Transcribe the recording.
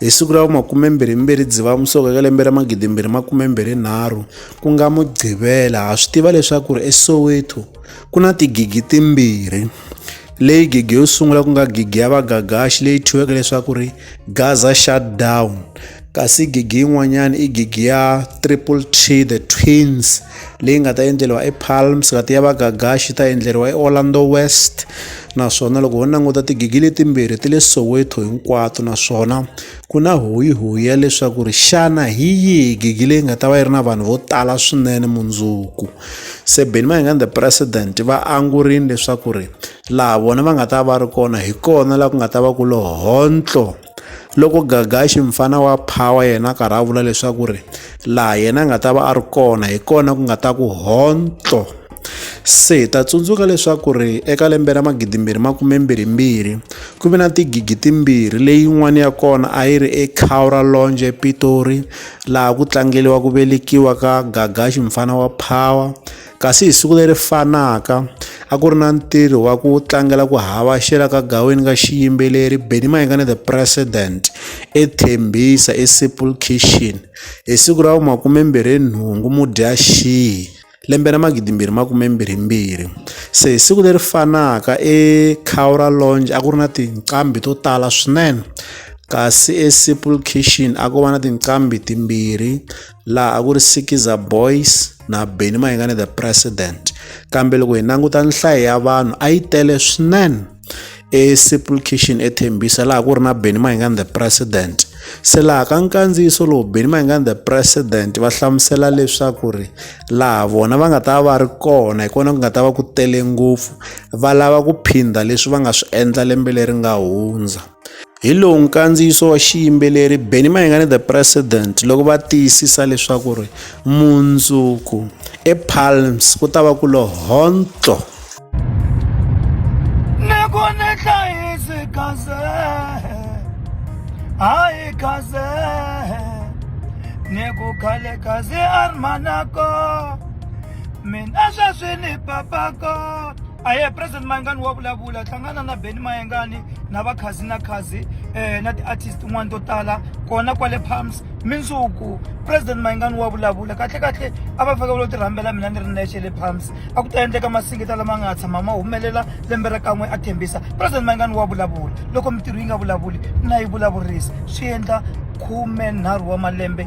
Hi siku ra vumakumembirhimbirhi Dzivamusoko eka lembe ra magidimbirhi makumembirhinharhu ku nga Mugqivela ha swi tiva leswaku ri eSoweto ku na tigigi timbirhi leyi gigi yo sungula ku nga gigi ya vagagaxi leyi thyiweke leswaku ri Gaza shutdown kasi gigi yin'wanyana i gigi ya triple t the twins leyi nga ta endleriwa epalms kati ya vagagaxi ta endleriwa eorlando west naswona loko ho languta tigigi letimbirhi ti le soweto hinkwato naswona ku na hoyihoyi ya leswaku ri xana hi yihi gigi leyi nga ta va yi ri na vanhu vo tala swinene mundzuku se beni mayingani the president va angurile leswaku ri laha vona va nga ta va ri kona hi kona laha ku nga ta va ku lohontlo loko gagaxi mfana wa power yena a karhi a vula leswaku ri laha yena a nga ta va a ri kona hi kona ku nga ta ku hontlo se hi ta tsundzuka leswaku ri eka lembe ra magidimbirhi makumembirhimbirhi ku ve na tigigi timbirhi leyin'wana ya kona a yi ri ecaura longe epitori laha ku tlangeliwa ku velekiwa ka gagaxi mfana wa power Kasi hi siku leri fanaka, a ku ri na ntirho wa ku tlangela ku havaxela ka gaweni ka xiyimbeleri Benny Mayengani the President eThembisa eSimple Kitchen hi siku ra makumembirhi nhungu Mudyaxihi lembe ra magidimbirhi makumembirhimbirhi se hi siku leri fanaka eCowra Lounge a ku ri na tinqambi to tala swinene kasi eSimple Kitchen a ko va na tinqambi timbirhi laha a ku ri sikiza boys na beni mayingani the president kambe loko hi languta nhlayo ya vanhu a yi tele swinene esimple kitchen ethembisa laha ku ri na beni mayingani the president se laha ka nkandziyiso lowu beni mayingani the president va hlamusela leswaku ri laha vona va nga ta va ri kona hi kona ku nga ta va ku tele ngopfu va lava ku phinda leswi va nga swi endla lembe leri nga hundza Hi lowu nkandziyiso wa xiyimbeleri Benny Mayengani the President loko va tiyisisa leswaku ri mundzuku ePalms ku ta va ku lo hontlo. Ni ku ni hlayisi kaze, hayi kaze, ni ku khale kaze armanako, mina sweswi ni papako. a ye president mayengani wa vulavula hlangana na beni mayengani na vakhazi na khazi um na ti-artist tin'wana to tala kona kwale palms mindzuku president mayengani wa vulavula kahle kahle a va fake vulo ti rhambela mina ni ri nexe le palms a ku ta endleka masingita lama nga tshama ma humelela lembe ra kan'we a thembisa president mayengani wa vulavula loko mintirho yi nga vulavuli na yi vulavurisa swi endla khume nharhu wa malembe